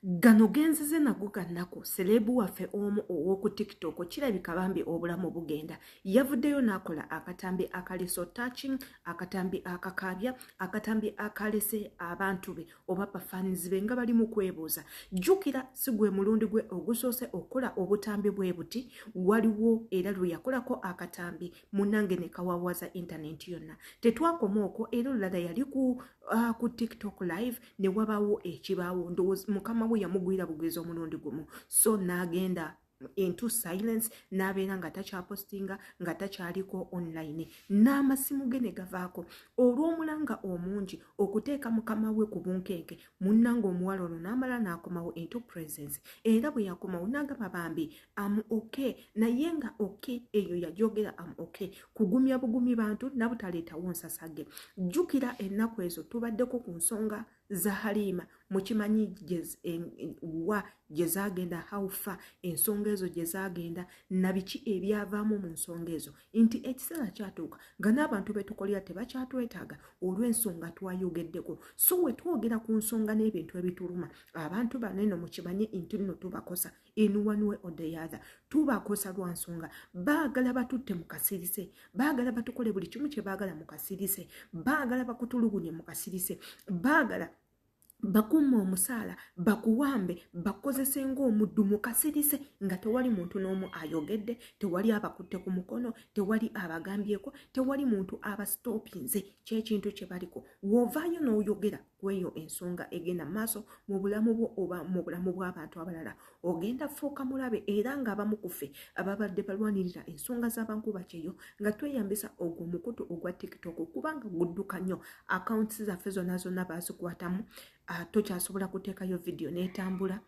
gano genzize nago gannaku seleebu waffe omu ow'oku tiktok kirabika bambi obulamu bugenda yavuddeyo n'akola akatambi akaleso touching akatambi akakaabya akatambi akalese abantu be oba bafaanizi be nga bali mu kwebuuza jjukira si gwe mulundi gwe ogusoose okukola obutambi bwe buti waliwo era lwe yakolako akatambi munange ne kawawaza intanenti yonna tetwakoma okwo era olulala yali ku uh, ku tiktok live ne wabawo ekibaawo ndowooza mukama we yamugwira bugwiza omulundi gumu so n'agenda into silence n'abeera nga takyapostinga nga takyaliko online n'amasimu ge ne gavaako olw'omulanga omungi okuteeka mukama we ku bunkenke munnanga omuwala ono n'amala n'akomawo into presence era bwe yakomawo n'agamba bambi am okay naye nga okay eyo yajogera am okay kugumya bugumi bantu nabutaleetawo nsasage jjukira ennaku ezo tubaddeko ku nsonga za haliima mukimanyi wa gye zagenda haufa ensonga ezo gye zagenda nabiki ebyavaamu mu nsonga ezo nti ekiseera kyatuuka nga n'abantu betukolera tebakyatwetaaga olw'ensonga twayogeddeko so wetwogera ku nsonga n'ebintu ebituluma abantu bano eno mukimanyi nti nno tubakosa in one way or the other tubakosa lwa nsonga baagala batutte mu kasirise baagala batukole buli kimu kye baagala mu kasirise baagala bakutulugunye mu kasirise baagala bakumme omusaala bakuwambe bakozese ng'omuddu mukasirise nga tewali muntu n'omu ayogedde tewali abakutte ku mukono tewali abagambyeko tewali muntu abasitoopinze kyekintu kye baliko wovaayo n'oyogera kweyo ensonga egenda maaso mu bulamu bwo oba mu bulamu bw'abantu abalala ogenda fuuka mulabe era ng'abamu kuffe ababadde balwanirira ensonga z'abankuba kyeyo nga tweyambisa ogwo omukutu ogwa tiktok kubanga gudduka nnyo akawunti zaffe zonna zonna bazikwatamu ah, tokyasobola kuteekayo vidiyo n'etambula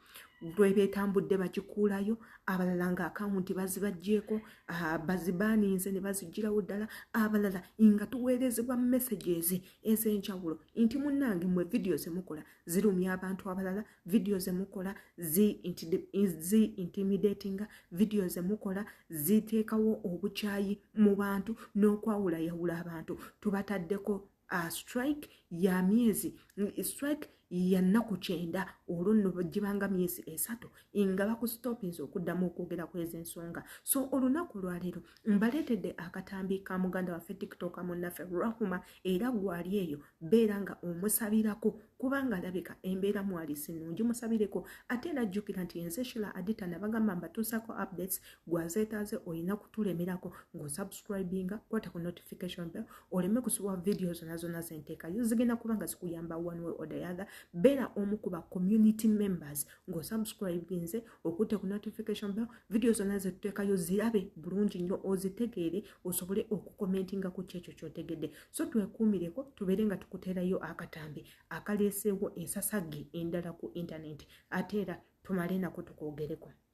lwebetambudde bakikuulayo abalala nga akawunti bazibajjeeko ah, bazibaaninze ne bazijjirawo ddala abalala nga tuweerezebwa messages ezenjawulo nti munange mwe vidiyo zemukola zirumya abantu abalala vidiyo zemukola zi intimidatinga vidiyo zemukola ziteekawo obukyayi mu bantu n'okwawulayawula abantu tubataddeko uh, strike ya myezi strike yannaku kyenda olwo nno gibanga myezi esatu nga bakustopinza okuddamu okwogera kwezi ensonga so olunaku olwaleero mbaleetedde akatambi ka muganda waffe tiktok munnaffe rahuma era gwali eyo beera nga omusabirako kubanga alabika embeera mwali sinungi musabireko ate era jjukira nti enze shila adita nabagamba mbatuusako updates gwazeetaaze olina kutulemerako ng'osubscribinga kwata ku notification bell oleme kusubwa vidiyo zona zona zenteekayo zigenda kuba nga zikuyamba one way or the other beera omu ku ba community members ng'osubscribinze okutte ku notification bell vidiyo zona zetuteekayo zirabe bulungi nnyo ozitegeere osobole okukomentinga ku kyekyo kyotegedde so twekuumireko tubeere nga tukuteerayo akatambi akaleeseewo ensasage endala ku intaneti ate era tumale nako tukwogereko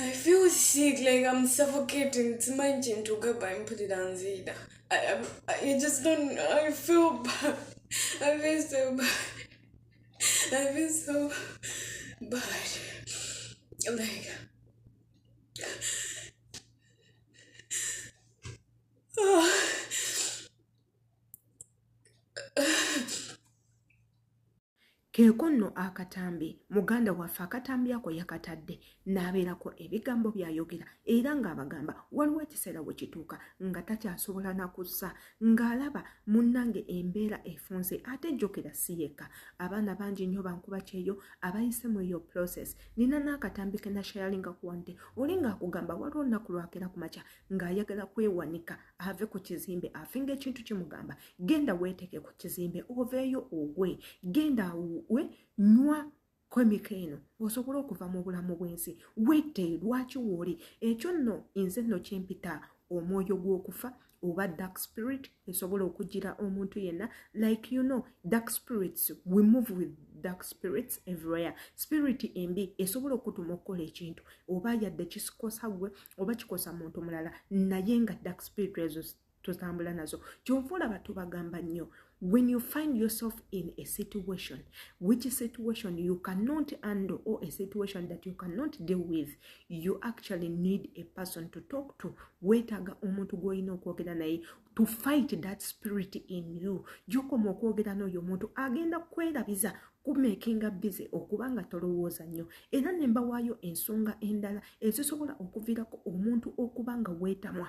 I feel sick, like I'm suffocating. It's my gym to go by and put it on Zida. I, I, I just don't, I feel bad. I feel so bad. I feel so bad. Like, oh. keeko nno akatambi muganda waffe akatambi ako yakatadde n'abeerako ebigambo by'ayogera era ng'abagamba waliwo ekiseera we kituuka nga takyasobola na kussa ng'alaba munnange embeera efunze ate jjukira si yekka abaana bangi nnyo bankuba kyeyo abayise mu eyo process nina n'akatambi ke nashayalinga kuwante oli ng'akugamba waliwo nnaku lwakera ku makya ng'ayagala kwewanika ave ku kizimbe afe ngaekintu kimugamba genda weeteeke ku kizimbe oveeyo ogwe genda we nywa kwemika eno osobole okuva mu bulamu bw'ensi wete lwaki wooli ekyo nno nze nno kimpita omwoyo gw'okufa oba dark spirit esobola okugira omuntu yenna like you know dark spirits we move with dark spirits everywhere spirit embi esobola okutuma okukola ekintu oba yadde kisikosa gwe oba kikosa muntu mulala naye nga dark spirit ezo totambula nazo kyova olaba tubagamba nnyo when you find yourself in a situation which situation you cannot handle or a situation that you cannot deal with you actually need a person to talk to weetaaga omuntu gw'olina okwogera naye to fight that spirit in you gyokoma okwogera n'oyo omuntu agenda kwerabiza kumekinga bize okuba nga tolowooza nnyo era ne mbawaayo ensonga endala ezisobola okuviirako omuntu okuba nga weetamwa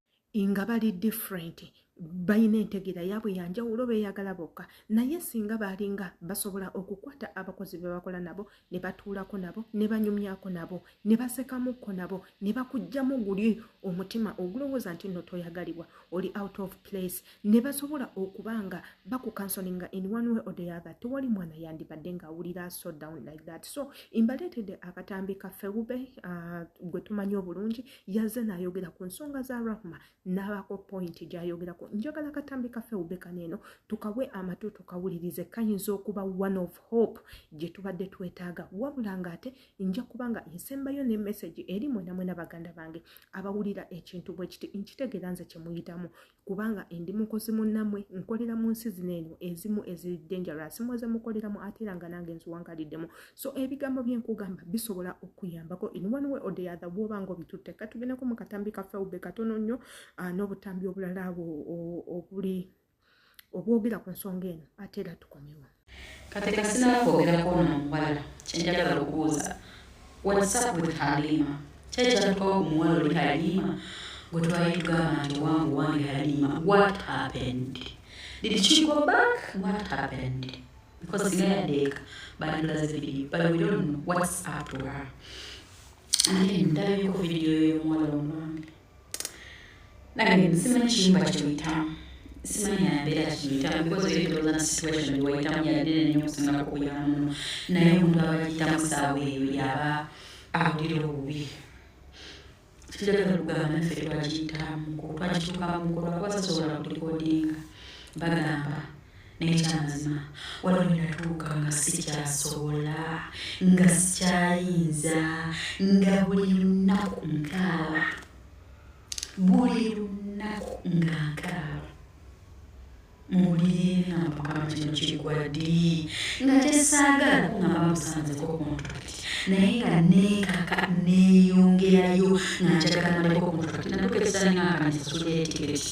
nga bali different balina entegeera yaabwe yanjawulo beeyagala bokka naye singa baalinga basobola okukwata abakozi be bakola nabo ne batuulako nabo ne banyumyako nabo ne basekamukko nabo ne bakugjamu guli omutima ogulowooza nti nno toyagalibwa oli out of place ne basobola okuba nga bakukansolinga in one way or the other tewali mwana yandibadde ng'awulira so down like that so imbaleetedde akatambi kaffe wube uh, gwe tumanyi obulungi yaze nayogera ku nsonga za rahma n'abako pointi gyayogerako njagala katambi kafe ubekana eno tukawe amatu tukawulirize kayinza okuba one of hope gye tubadde twetaaga wabula nga ate nja kuba nga nsembayo ne message eri mwenamwena baganda bange abawulira ekintu bwekiti nkitegeera nze kyemuyitamu kubanga ndi mukozi munnamwe nkolera mu nsi zino eno ezimu eziri dangerous muze mukoleramu ate era nga nange nziwangaliddemu so ebigambo byenkugamba bisobola okuyambako in one way or the other bwoba nga obitutte katugendeko mu katambi kaffe obbe katono nnyo ah, n'obutambi obulala obuli obwogera ku nsonga eno ate era tukomewo kati kasinaba kwogera kwono omuwala kyenjagala okubuuza whatsapp with halima kyekyatukawo omuwala oli halima gwe twali tugamba nti wange wange halima what happened did she go back what happened because singa yadeeka bandulaze video but we don't know what's up to her and then ndabeko video yomuwala omwami nange simanyi kiyumba kyoyitamu simanyi nabeera kiyitamu because eri ndowooza na situation wayitamu yadene nyo okusinga kukuyamuno naye omuntu abagiyitamu saawa eyo yaba awulira obubi kitagala lugamba naffe twagiyitamu twagitukamu kuba kuba sasobola kulikodinga bagamba naye kyamazima waliwo nenatuuka nga sikyasobola nga sikyayinza nga buli lunaku nkaaba buli lunaku nga nkaaba muwulire nga mukama kino kigwaddi nga kyesaagala nga bamusanzeko omuntu naye nga neekaka neeyongerayo nga njagala maleko omuntu kati natuuka ekisaala nga nga nzisuleetiketi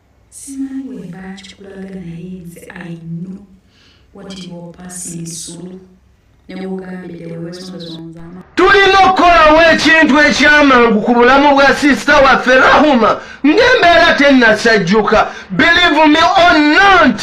Simanyi bwe mba nkikulaga naye nze I know what you are passing through. tulina okukolawo ekintu ekyamangu ku bulamu bwa sisita waffe rahuma ng'embeera tennasajjuka believe me or not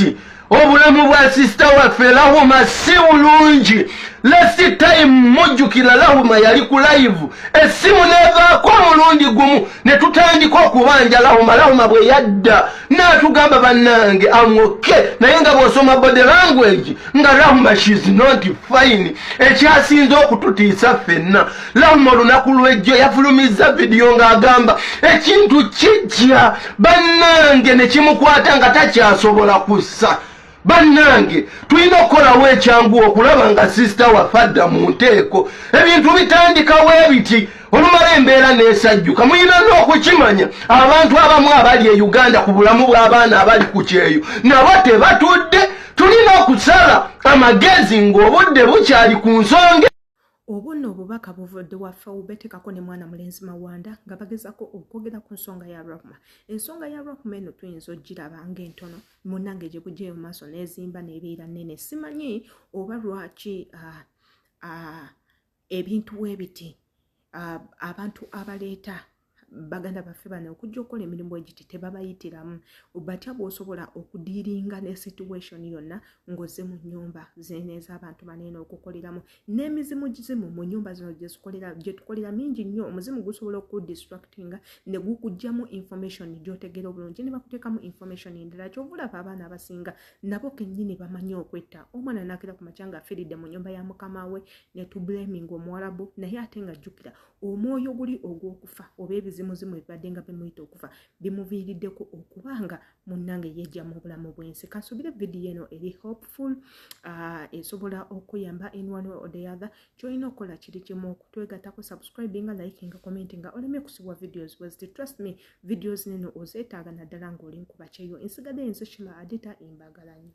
obulamu bwa sisita waffe lahuma si bulungi lasi time mujjukira lahuma yali ku layivu essimu nevaako omulundi gumu ne tutandika okubanja lahuma lahuma bwe yadda naatugamba bannange amoke naye nga bw'osoma body language nga lahuma shiz not fine ekyasinze okututiisa ffenna lawuma olunaku lwejjo yafulumizza vidiyo ng'agamba ekintu kijja bannange ne kimukwata nga takyasobola kussa bannange tulina okukolawo ekyangu okulaba nga sisita waffe adda mu nteeko ebintu bitandikawo ebiti olumala embeera nesajjuka mulina n'okukimanya abantu abamu abali e uganda ku bulamu bw'abaana abali ku kyeyo nabo tebatudde tulina okusala amagezi ng'obudde bukyali ku nsonga obuno obubaka buvodde wa faube tekako ne mwana mulenzi mawanda nga bagezako okwogera ku nsonga ya rahma ensonga ya rahma eno tuyinza ogiraba ngaentono munange gye gujeyo maaso nezimba nebeera nene simanyi oba lwaki ah, ah, ebintu webiti ah, abantu abaleeta baganda baffe bano okujja okukola emirimu egiti tebabayitiramu batya bwosobola okudiiringa ne situation yonna ngoze mu nyumba zeneeza abantu baneena okukoleramu n'emizimu gizimu mu nyumba zino gyetukolera mingi nnyo omuzimu gusobola okudistractinga ne gukugjamu information gyotegeera obulungi ne bakuteekamu information endala kyovulaba abaana abasinga nabo kennyini bamanyi okwetta omwana nakira ku makyanga afiridde mu nyumba ya mukama we netublaminga omuwalabu naye ate nga jjukira omwoyo guli ogw'okufa oba ebizimuzimu ebibadde nga bimuyita okufa bimuviiriddeko okuba nga munnange yeja mu bulamu bw'ensi kansubire vidiyo eno eri hopeful uh, esobola okuyamba in one way or the other kyolina okukola kiri kimu okutwegatako subscribe nga like nga comment nga oleme kusibwa videos was the trust me videos nino ozeetaaga naddala ng'oli nkuba kyeyo ensigadde ensi shima adita embagala nyo